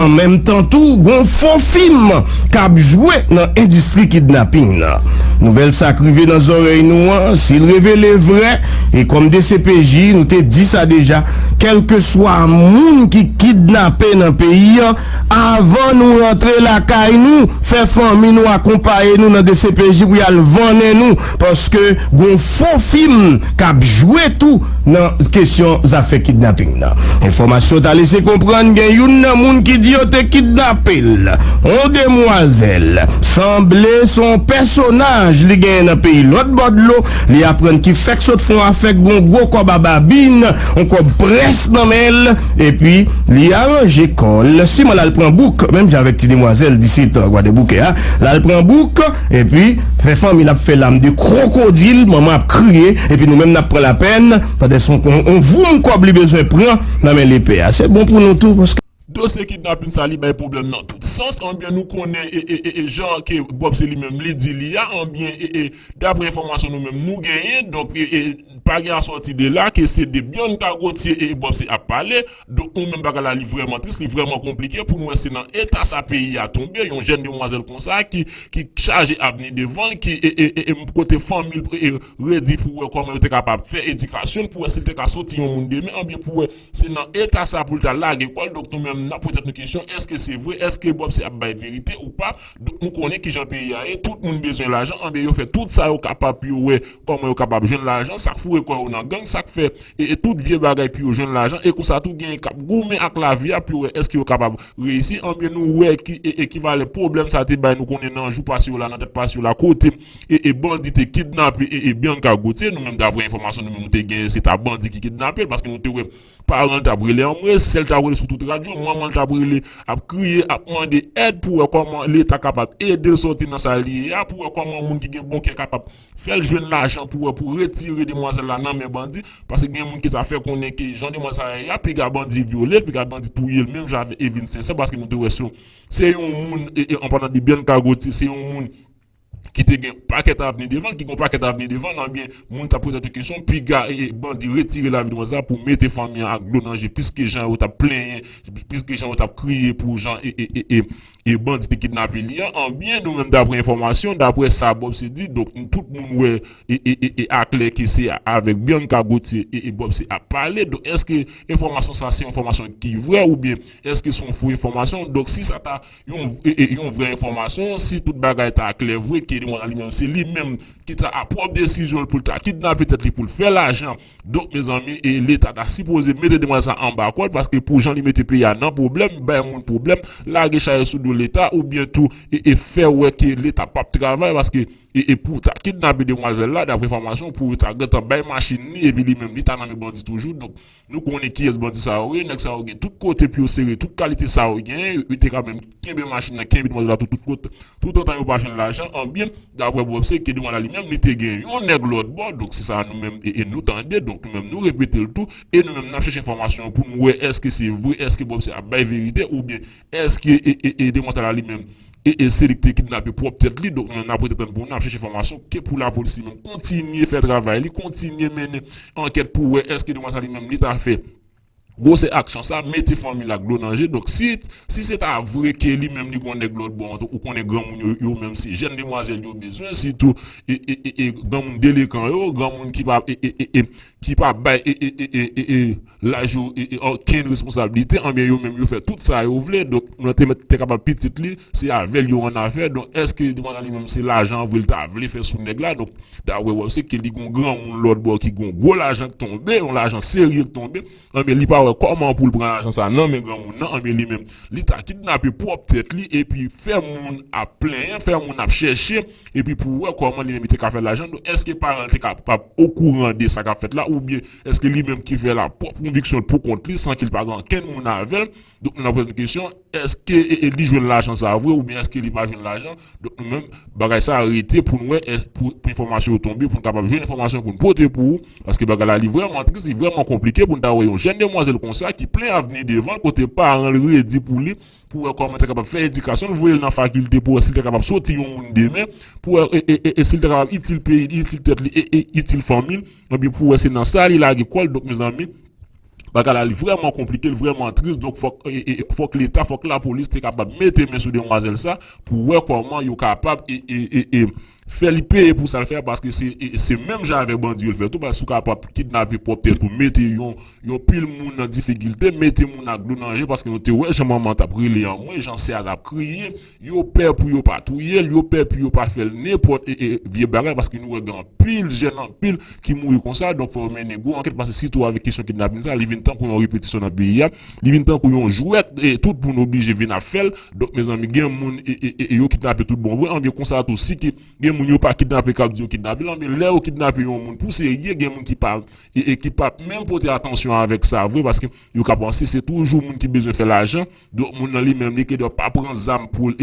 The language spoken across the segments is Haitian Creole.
An menm tan tou, gon fo fim kap jwe nan endistri kidnaping nan. Nouvèl sa k rive nan zòrèy nou an, si l revele vrè, e kòm dcpj nou te di sa deja, kèlkeswa moun ki kidnape nan peyi an, avan nou rantre lakay nou, fè fanmi nou akonpaye nou nan dcpj pou y al vannen nou. Paske gon fo fim kap jwe tou nan kesyon zafè kidnaping nan. Enfòmasyon ta lese konprann gen youn nan moun ki di yo te kidnape l, on demwazèl, sanble se on pèsonaj li genyen nan peyi lòt bò dlo, li aprann ki fèk sot fon afèk gon gwo kòb a babin, on kòb près nan men l, epi li aranje kò l siman l al pran bouk, menm jan avèk ti demwazèl 17 an gwadeboukè a, l al pran bouk. Epi, fè fanmi l ap fè lam de kwokodil, manman ap kriye, epi nou menm n ap pran lapenn, pande son kon on voum kòb li bezwen pran nan men lepè a. Se bon pou nou tou, paske. Dosye kidnapin sa li bay pwoblèm nan tout sans, anbyen nou konnen ee jan ke Bob se li menm li di li a, anbyen ee daprè enfòmasyon nou menm nou genyen, donk ee pa gen asòti de la ke se de byann kagotye ee Bob se ap pale. Donk nou menm bagay la li vrèman tris, li vrèman konplike pou nou wè se nan eta sa peyi a tonbe, yon jèn demwazèl konsa ki chaje avni devan l, ki kote fanmi l redi pou wè kòman yo te kapab fè edikasyon l pou wè si l te ka soti yon moun demen, anben pou wè se nan eta sa pou l ta lage kò l, donk nou menm n ap poze tèt nou kesyon èske se vre, èske Bob se ap bay verite ou pa, donk nou konnen kijan peyi a ye, tout moun bezwen lajan, anben yo fè tout sa yo kapab pou yo wè kòman yo kapab jwenn lajan, sa k foure kò yo nan gang, sa k fè. e tout vye bagay pou yo jwenn lajan e konsa tou genyen kap goumen ak lavi a pou yo wè èske yo kapab reyisi anbyen nou wè ki ekivalè pwoblèm sa te bay nou konnen nan jou pase yo la nan dat pase yo la kote e bandi te kidnape e Bianca Gauthier nou menm daprè enfòmasyon nou menm nou te genyen se ta bandi ki kidnape l paske nou te wè paran l tap rele anmwe sè l tap rele sou tout radyo manman l tap rele ap kriye ap mande èd pou wè kòman leta kapab ede l sòti nan sa l ye a pou wè kòman moun ki gen bon kè kapab Fèl jwenn lajan pou wè pou retire demwazèl la nan men bandi, paske gen moun ki ta fè konnen ke jan demwazèl sa ye a piga bandi vyolel, piga bandi touyel menm jan avèk Evelyne Sincère paske nou te wè se yon se yon moun an palan de Bianca Gauthier se yon moun ki te gen pakèt avni devanl, ki gen yon pakèt avni devanl anbyen moun ta poze tèt yo kesyon piga bandi retire lavi demwazèl la pou mete fanmi an ak dlo nan je piske jan yo tap plenyen piske jan yo tap kriye pou jan E bandi te kidnape li an anbyen nou menm daprè enfòmasyon daprè sa Bob se di donk tout moun wè e aklè ke se avèk Bianca Gauthier e Bob se ap pale donk eske enfòmasyon sa se yon enfòmasyon ki vrè oubyen eske se yon fo enfòmasyon donk si sa ta yon vrè enfòmasyon si tout bagay ta klè vre ke li menm se li menm ki ta a pwòp desizyon l pou l ta kidnape tèt li pou l fè lajan Donk mezanmi e leta ta sipoze mete demwazèl sa anba kòd paske pou jan li mete peyi a nan pwoblèm, bay moun pwoblèm, lage chayè sou do leta ou byen tou e e fè wè ke leta pap travay paske e e pou ta kidnape demwazèl la daprè enfòmasyon pou yo ta gentan bay machin li epi li menm li ta nan men bandi toujou donk nou konnen kiyès bandi sa yo ye nèg sa yo gen tout kote pou yo sere tout kalite sa yo genyen yo te ka menm kenbe machin nan, kenbe demwazèl la tou tout kote, tout antan yo pa jwenn lajan an byen daprè Bobse ke demwazèl la li menm li te gen yon nèg lòt bò donk se sa nou menm nou tande donk nou menm nou repete l tou e nou menm n ap chèche enfòmasyon an pou nou wè èske se vre èske Bobse ap bay verite oubyen èske demwazèl la li menm se li ki te kidnape pwòp tèt li donk nou menm n ap rete tann pou nou n ap chèche enfòmasyon ke pou lapolis li menm kontinye fè travay li kontinye mennen ankèt pou wè èske demwazèl sa li menm li ta fè. Gwosè aksyon sa mete fanmi l ak dlo nan je donk si si se ta vre ke li menm li gon nèg lòtbò an ou konnen granmoun yo yo menm se jèn demwazèl yo bezwen sitou eeeee granmoun delekan yo granmoun ki pa eeeee ki pa bay eeeee laj yo eeeee okenn responsablite anbyen yo menm yo fè tout sa yo vle donk mwen te mèt te kapab pitit li se avè l yo annafè donk èske demwazèl li menm se lajan vre li ta vle fè sou nèg la donk Da wè wè se ke li gon gran moun lòt bò ki gon gwo lajan k tonbe, yon lajan serye k tonbe, anben li pa wè kòman pou l pran lajan sa nan men gran moun nan, anben li menm li ta kidnape pwòp tèt li epi fè moun ap plenyen, fè moun ap chèche epi pou wè kòman li menm li te ka fè lajan l, donk èske paran l te kapab okouran de sa k ap fèt la oubyen èske li menm ki fè l ap pwòp konviksyon l pou kont li san ki l pa gen ankenn moun avè l? Donk nou nan pwazèm kesyon, eske li jwenn lajan sa vre oubyen eske li pa jwenn lajan? Donk nou menm bagay sa rete pou n wè pou enfòmasyon yo tonbe pou n kapab jwenn enfòmasyon pou n pote pou ou paske bagay la li vrèman tris li vrèman konplike pou n ta wè yon jèn demwazèl konsa ki plen avni devan l kote paran l redi pou li pou wè kòman l ta kapab fè edikasyon l voye l nan fakilte pou wè si l ta kapab soti yon moun demen pou wè e si l ta kapab itil peyi li itil tèt li e itil fanmi l ebyen pou wè se nan sa li lage kò l donk mezanmi Bagay la li vrèman konplike, li vrèman tris donk fòk fòk leta, fòk lapolis te kapab mete men sou demwazèl sa pou wè kòman yo kapab fè li peye pou sa l fè paske se menm jan avèk bandi yo l fè tou paske si w kapab kidnape pwòp tèt ou mete yon pil moun nan difikilte mete moun ak dlo nan je paske nou te wè jan manman t ap rele anmwe jan sè a t ap kriye Yo pè pou yo pa touye l, yo pè pou yo pa fè l nenpòt vye bagay paske nou wè gen anpil jèn, anpil ki mouri konsa. Donk fò yo mennen gwo ankèt paske sitou avèk kesyon kidnapin sa li vin tankou yon repetisyon nan peyi a. Li vin tankou yon jwèt tout moun oblije vin ap fè l. Donk mezanmi gen moun yo kidnape tout bon vre anben konsa tou si ke gen moun yo pa kidnape k ap di yo kidnape l anben lè yo kidnape yon moun pou serye gen moun ki pa ki p ap menm pote atansyon avèk sa vre paske yo ka panse se toujou moun ki bezwen fè lajan. Donk moun nan li menm li kedò pa pran zam poul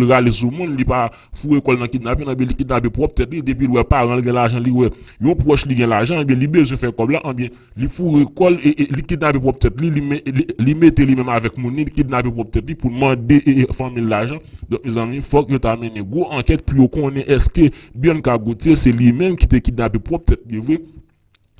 rale sou moun li pa foure kòl nan kidnaping nan ebyen li kidnape pwòp tèt li depil wè paranl gen lajan li wè yon pwòch li gen lajan ebyen li bezwen fè kòb la anbyen li foure kòl li kidnape pwòp tèt li li mete li menm avèk moun li li kidnape pwòp tèt li poul mande fanmil lajan donk mezanmi fòk yo ta mennen gwo ankèt pou yo konnen èske Bianca Gauthier se li menm ki te kidnape pwòp tèt li vre.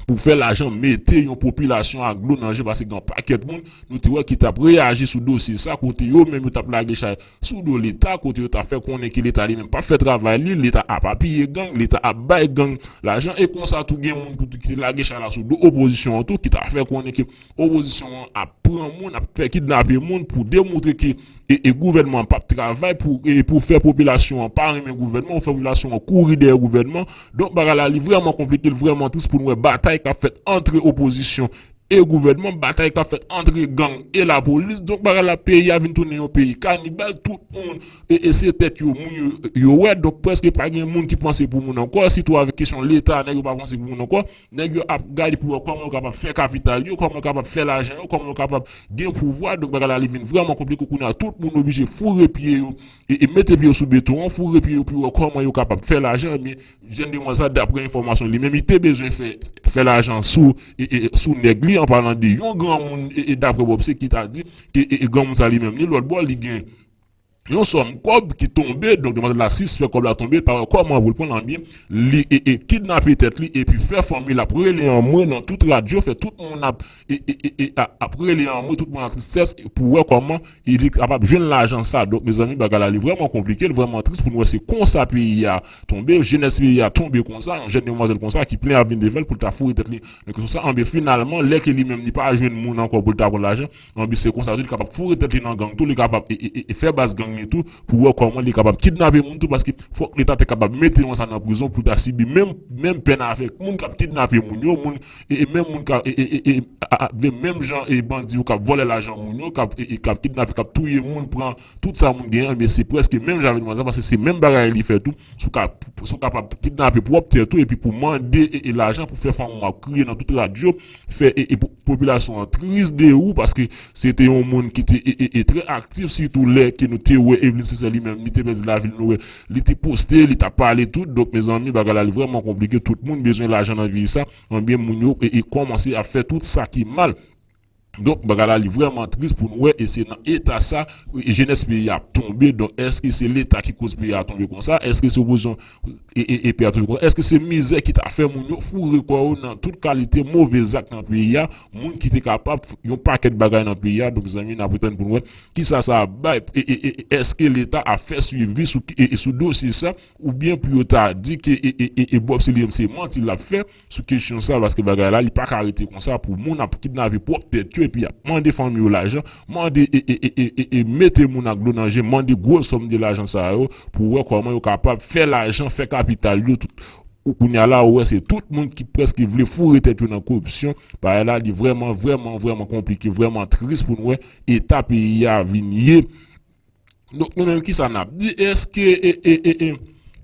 Pou fè lajan mete yon popilasyon ak dlo nan je paske gen yon pakèt moun nou te wè ki tap reyaji sou dosye sa kote yo menm yo tap lage chay sou do leta kote yo tap fè konnen ke leta li menm pap fè travay li leta ap apiye gang leta ap bay gang lajan e konsa tou gen moun ki te lage chay la sou do opozisyon an tou ki ta fè konnen ke Opozisyon an ap pran moun, ap fè kidnape moun pou demontre ke gouvènman an pap travay, pou fè popilasyon an pa renmen gouvènman, pou fè popilasyon an kouri dèyè gouvènman. Donk bagay la li vrèman konplike, li vrèman tris pou nou wè batay kap fèt antre opozisyon e gouvènman, batay kap fèt antre gang e lapolis. Donk bagay la peyi a vin tounen yon peyi kanibal, tout moun se tèt yo moun yo wè, donk prèske pa gen moun ki panse pou moun ankò, sitou avèk kesyon leta nèg yo pa panse pou moun ankò. Nèg yo ap gade pou wè kòman yo kapab fè kapital yo, kòman yo kapab fè lajan yo, kòman yo kapab gen pouvwa. Donk bagay la li vin vrèman konplike kounye a. Tout moun oblije foure pye yo e mete pye yo sou beton an, foure pye yo pou yo wè kòman yo kapab fè lajan. Ebyen, jèn demwazèl la daprè enfòmasyon li menm li te bezwen fè fè lajan sou sou nèg li an palan de yon granmoun daprè Bob Seki ta di ke granmoun sa li menm li lòt bò li gen Yon sòm kòb ki tonbe, donk demwazèl la sisfè kòb la tonbe, l pa wè kòman pou l pran l anbyen, li kidnape tèt li epi fè fanmi l ap rele anmwe nan tout radyo, fè tout moun ap rele anmwe, tout moun nan tristès pou wè kòman li kapab jwenn lajan sa. Donk mezanmi bagay la li vrèman konplike, li vrèman tris pou nou wè se konsa peyi a tonbe, jenès peyi a tonbe konsa, yon jèn demwazèl konsa ki plen avni devan l pou l ta foure tèt li nan kesyon sa, anbyen finalman lè ke li menm li pa jwenn moun ankò pou l ta pran lajan, Anby se konsa tou li kapab foure tèt li nan gang tou li kapab fè baz gang li tou pou wè kòman li kapab kidnape moun tou paske fòk leta te kapab mete yon sa nan prizon pou ta sibi menm pèn avèk moun kap kidnape moun yo moun menm moun kap menm jan bandi yo kap vòlè lajan moun yo kap kidnape kap touye moun pran Tout sa moun gen ebyen se preske menm jan avèk manzè paske se menm bagay li fè tou sou kapab kidnape pwòp tèt ou epi pou mande lajan pou fè fanm ou ap kriye nan tout radyo fè popilasyon an tris de ou paske se te yon moun ki te trè aktif sitou lè ke nou te wè Evelyne Sincère li menm li te pèdi lavi l nou wè li te poste li t ap pale tout donk mezanmi bagay la li vrèman konplike tout moun bezwen lajan nan peyi sa ebyen moun yo kòmanse ap fè tout sa ki mal. Donk bagay la li vrèman tris pou nou wè e se nan eta sa jenès peyi a ap tonbe donk èske se leta ki koz peyi a tonbe konsa èske se opozisyon e peyi a tonbe konsa èske se mizè ki ta fè moun yo foure kò yo nan tout kalite move zak nan peyi a moun ki te kapab yon pakèt bagay nan peyi a donk mezanmi nap retann pou nou wè kisa sa ap bay e èske leta ap fè swivi sou dosye sa oubyen pou yo ta di ke e Bob Selim se manti lap fè. sou kesyon sa paske bagay la li paka rete konsa pou moun ap kidnape pwòp tèt yo epi yap mande fanmi yo lajan mande e mete moun ak dlo nan je mande gwo sòm de lajan sa yo pou wè kòman yo kapab fè lajan fè kapital yo kounya la ou wè se tout moun ki prèske vle foure tèt yo nan koripsyon bagay la li vrèman vrèman vrèman konplike vrèman tris pou nou wè eta peyi a vin ye. Donk nou menm kisa nap di eske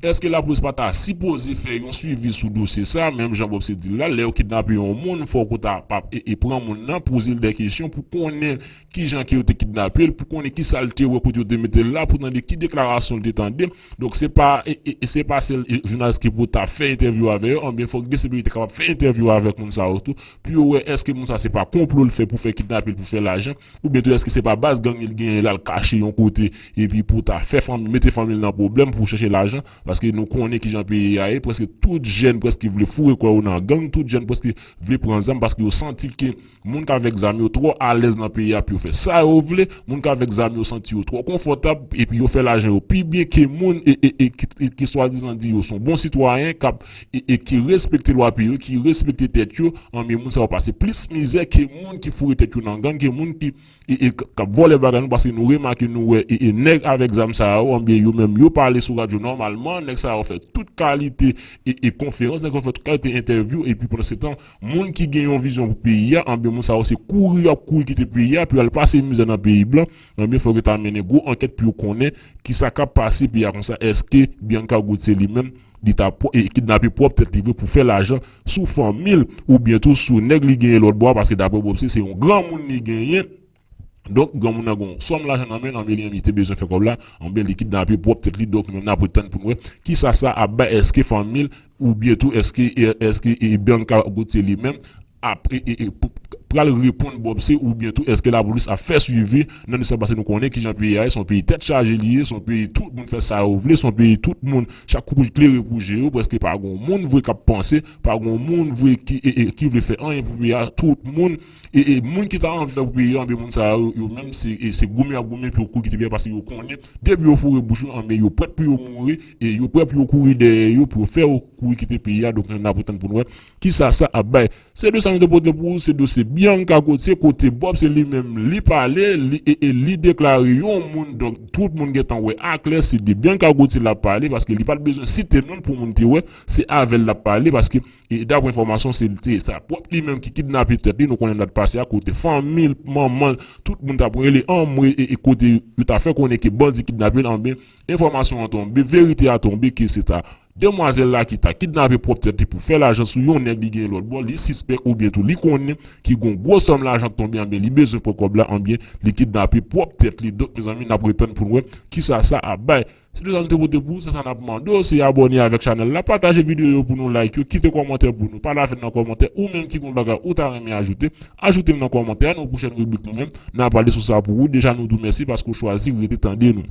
eske lapolis pa ta sipoze fè yon swivi sou dosye sa menm jan Bob se dil la lè yo kidnape yon moun fòk ou ta pa pran moun nan pozel dè kesyon pou konnen kijan ke yo te kidnapel pou konnen kisal te wè kote yo te metel la pou tande ki deklarasyon li te tande donk se pa se pa sèl jounalis ki pou ta fè entèvyou avè yo anben fòk dcpj te kapab fè entèvyou avèk moun sa yo tou pou yo wè eske moun sa se pa konplo li fè pou fè kidnapel pou fè lajan. Oubyen tou eske se pa baz gang li t genyen lal kache yon kote epi pou ta fè fanmi mete fanmil nan pwoblèm pou chèche lajan paske nou konnen kijan peyi a ye preske tout jèn preske vle foure kò yo nan gang tout jèn preske vle pran zam paske yo santi ke moun k avèk zam yo twò alèz nan peyi a pou yo fè sa yo vle moun k avèk zam yo santi yo twò konfòtab epi yo fè lajan yo pi byen ke moun e e e ki swadizan di yo son bon sitwayen kap e ki respekte lwa peyi yo, ki respekte tèt yo, anben moun sa yo pase plis mizè ke moun ki foure tèt yo nan gang, ke moun ki kap vòlè bagay nou, paske nou remake nou wè nèg avèk zam sa yo, anben yo menm yo pale sou radyo nòmalman, nèg sa yo fè tout kalite konferans, nèg sa yo fè tout kalite entèvyou, epi pandansetan moun ki gen yon vizyon pou peyi a, anben moun sa yo se kouri yo ap kouri kite peyi a pou yo al pase mizè nan peyi blan, anben fòk yo ta mennen gwo ankèt pou yo konnen kisa kap pase peyi a konsa, èske Bianca Goud se li menm. Li ta kidnape pwòp tèt li vre pou fè lajan sou fanmi l oubyen tou sou nèg li genyen lòt bò a paske daprè Popsi se yon granmoun li genyen donk granmoun nan gen yon sòm lajan nan men l anmweyy li te bezwen fè kòb la anben li kidnape pwòp tèt li donk nou menm n ap ret tann pou n wè kisa sa ap bay èske fanmi l oubyen tou èske Bianca Gauthier li menm ap pral reponn Bob se ou byen tou eske la polis ap fè swivi nan dosye sa pase nou konnen kijan peyi a ye son peyi tèt chaje li ye son peyi tout moun fè sa yo vle son peyi tout moun chak koukouj klere pou je yo preske pa gon moun vre kap panse pa gon moun vre ki vle fè anyen pou peyi a tout moun moun ki ta anvi fè pou peyi a anben moun sa yo yo menm se goumen yap goumen pou yo kouri kite peyi a paske yo konnen depi yo foure bouch yo anben yo prèt pou yo mouri yo prèt pou yo kouri dèyè yo pou yo fè yo kouri kite peyi a donk nap atann poun wè. Kisa sa ap bay. Se de sa nou te pote pou ou se dosye Bianca Gauthier kote Bob se li menm li pale e li deklare yon moun donk tout moun gentan wè a klè se de Bianca Gauthier lap pale paske li pat bezwen site non pou moun te wè se avèl lap pale paske daprè enfòmasyon se sa pwòp li menm ki kidnape tèt li nou konnen dat pase a kote fanmil manmanl tout moun tap rele anmweyy e kote yo ta fè konnen ke bandi kidnapel anben enfòmasyon an tonbe verite a tonbe ke se ta Demwazèl la ki ta kidnape pwòp tèt li pou fè lajan sou yon nèg li genyen lòt bò, li sispèk oubyen tou li konnen ki gon gwo sòm lajan k tonbe anben li bezwen pran kòb la anben li kidnape pwòp tèt li donk mezanmi nap ret tann poun wè kisa sa ap bay. Se te sa nou te pote pou ou se sa nap mande w se abòne avèk chanèl la pataje videyo yo pou nou like yo kite kòmantè pou nou pa lafen nan kòmantè ou menm ki gon bagay ou ta renmen ajoute ajoute l nan kòmantè a nan pwochèn ribrik nou menm na pale sou sa pou ou deja nou di w mèsi paske w chwazi rete tande nou.